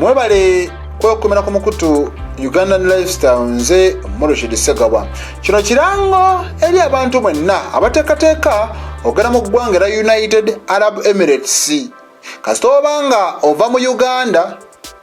mwebale kwekumira ku mukutu ugandan lifestyle nze murishid segawa kino kirango eri abantu mwenna abateekateeka ogenda mu ggwanga era united arab emirates kasita oba nga ova mu uganda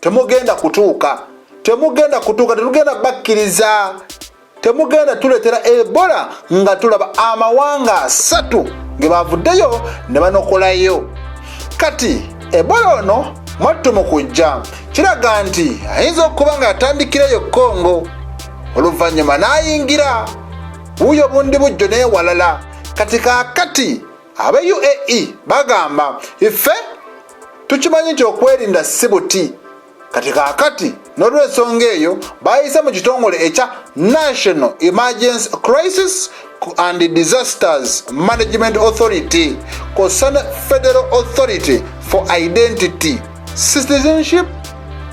temugenda kutuuka temugenda kutuuka tetugenda bakkiriza temugenda tuletera ebola nga tulaba amawanga asatu ge bavuddeyo ne banokolayo kati ebola ono mwattu mu kujja kiraga nti ayinza okuba nga yatandikirayo kongo oluvannyuma n'ayingira wuuyo bundi bujjo n'ewalala kati kakati abe uae bagamba ife tukimanyi nti okwerinda si buti kati kakati n'olwensonga eyo bayise mu kitongole ekya national emergency crisis and disasters management authority kosa ne federal authority for identity citizenship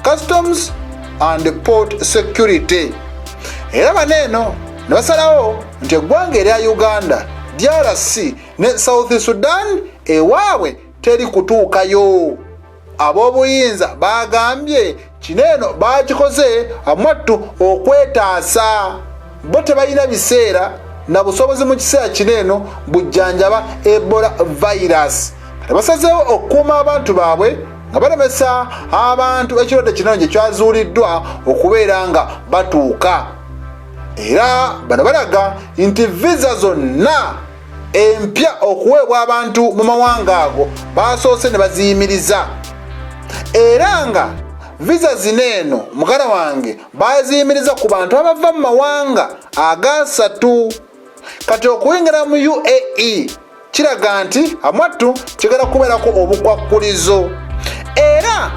customs and port security era bano eno ne basalawo nti eggwanga erya uganda drc ne south sudan ewaabwe teri kutuukayo ab'obuyinza baagambye kino eno baakikoze amwattu okwetaasa bo tebalina biseera na busobozi mu kiseera kino eno bujjanjaba ebola virus kati basazeewo okukuuma abantu baabwe nga balemesa abantu ekirwadde kino gye kyazuuliddwa okubeera nga batuuka era bano balaga nti viza zonna empya okuweebwa abantu mu mawanga ago baasoose ne baziyimiriza era nga viza zino eno mugala wange baziyimiriza ku bantu abava mu mawanga agasatu kati okuyingira mu uae kiraga nti amwattu kigenda kubeerako obukwakkulizo era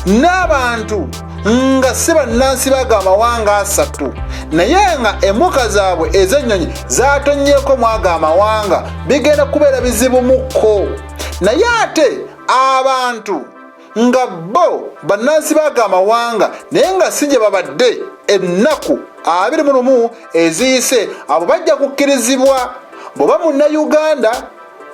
n'abantu nga si bannansi baga amawanga asatu naye nga emuka zaabwe ez'ennyonyi zatonnyeko mwago amawanga bigenda kubeera bizibumukko naye ate abantu nga bo bannansi baga amawanga naye nga si gye babadde ennaku abiri mu lumu eziyise abo bajja kukkirizibwa bwe ba munnayuganda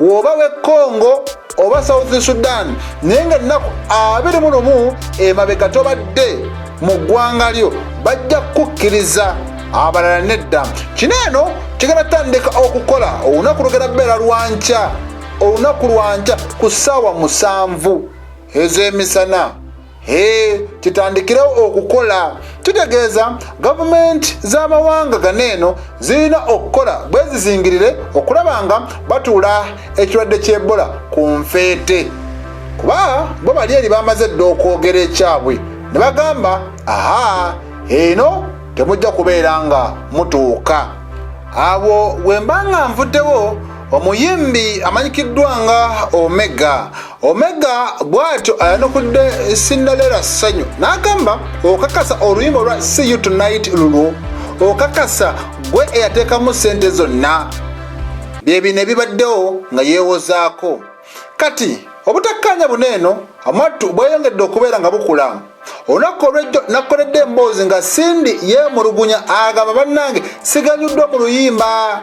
woba we congo oba south sudan naye nga ennaku abiri mu lumu emabega tobadde mu ggwanga lyo bajja kukukkiriza abalala nedda kino eno kigenda tandika okukola olunaku lugenda beera lwankya olunaku lwankya ku ssaawa musanvu ez'emisana Hey, kitandikirewo okukola kitegeeza gavumenti z'amawanga gano eno zirina okukola bwezizingirire okulaba nga batuula ekirwadde ky'ebola ku nfeete kuba bo bali eri bamaze dda okwogera ekyabwe ne bagamba aha eno temujja kubeera nga mutuuka awo wemba nga nvuddewo omuyimbi amanyikiddwa nga omega Omega bw'atyo ayanukudde Cinderella Ssanyu n'agamba okakasa oluyimba olwa See You Tonight lulwo okakasa gwe eyateekamu ssente zonna bye bino ebibaddewo nga yeewozaako kati obutakkaanya buno eno amwattu bweyongedde okubeera nga bukula olunaku olwejjo nakoledde emboozi nga sindi yeemulugunya agamba bannange siganyuddwa mu luyimba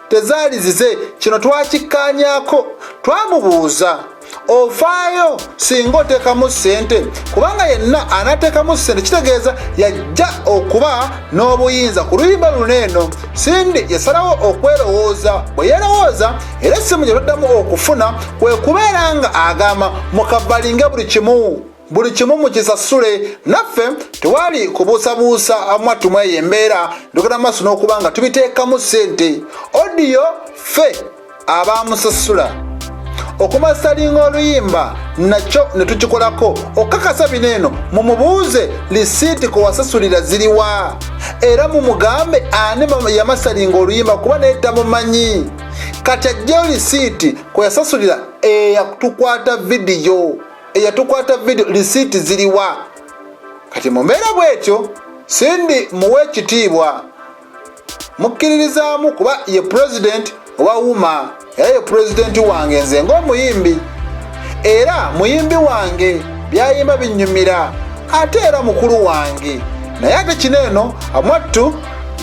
tezaali zize kino twakikkaanyaako twamubuuza ofaayo singa oteekamu ssente kubanga yenna anateekamu ssente kitegeeza yajja okuba n'obuyinza ku luyimba luno eno sindi yasalawo okwerowooza bwe yerowooza era essimu gye taddamu okufuna kwe kubeera nga agamba mukabalinge buli kimu buli kimu mukisasule naffe tewali kubuusabuusa mwattu mweyo embeera ndogera maaso n'okuba nga tubiteekamu ssente odiyo ffe abaamusasula okumasalinga oluyimba nakyo ne tukikolako okukakasa bino eno mumubuuze lisiiti kwe wasasulira ziriwa era mumugambe ani yamasalinga oluyimba kuba naye tamumanyi kati ajjeyo lisiiti kwe yasasulira eyatukwata vidiyo eyatukwata video lisiiti ziriwa kati mu mbeera bwetyo sindi muwa ekitiibwa mukkiririzaamu kuba ye pulezidenti owa wuma era ye pulezidenti wange nze ng'omuyimbi era muyimbi wange byayimba binnyumira ate era mukulu wange naye ate kino eno amwattu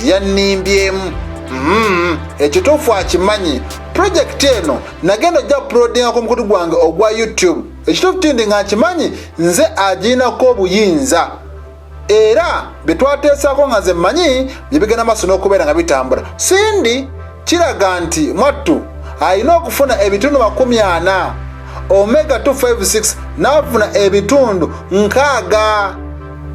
yannimbyemu mm-hmm. ekituufu akimanyi pulojekiti eno nagenda ojja pulodinga ku mukutu gwange ogwa youtube ekituufu kindi nga nkimanyi nze agiinako obuyinza era bye twateesaako nga nze mmanyi bye bigenda maaso n'okubeera nga bitambula sindi kiraga nti mwattu alina okufuna ebitundu makumi ana omega 256 n'afuna ebitundu nkaaga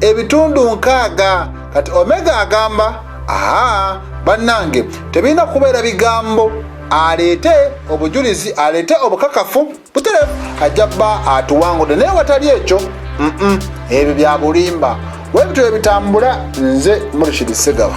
ebitundu nkaaga kati omega agamba aa bannange tebirina kubeera bigambo aleete obujulizi aleete obukakafu butere ajja kuba atuwangudde naye watali ekyo ebyo byabulimba webityo ebitambula nze murishidi segaba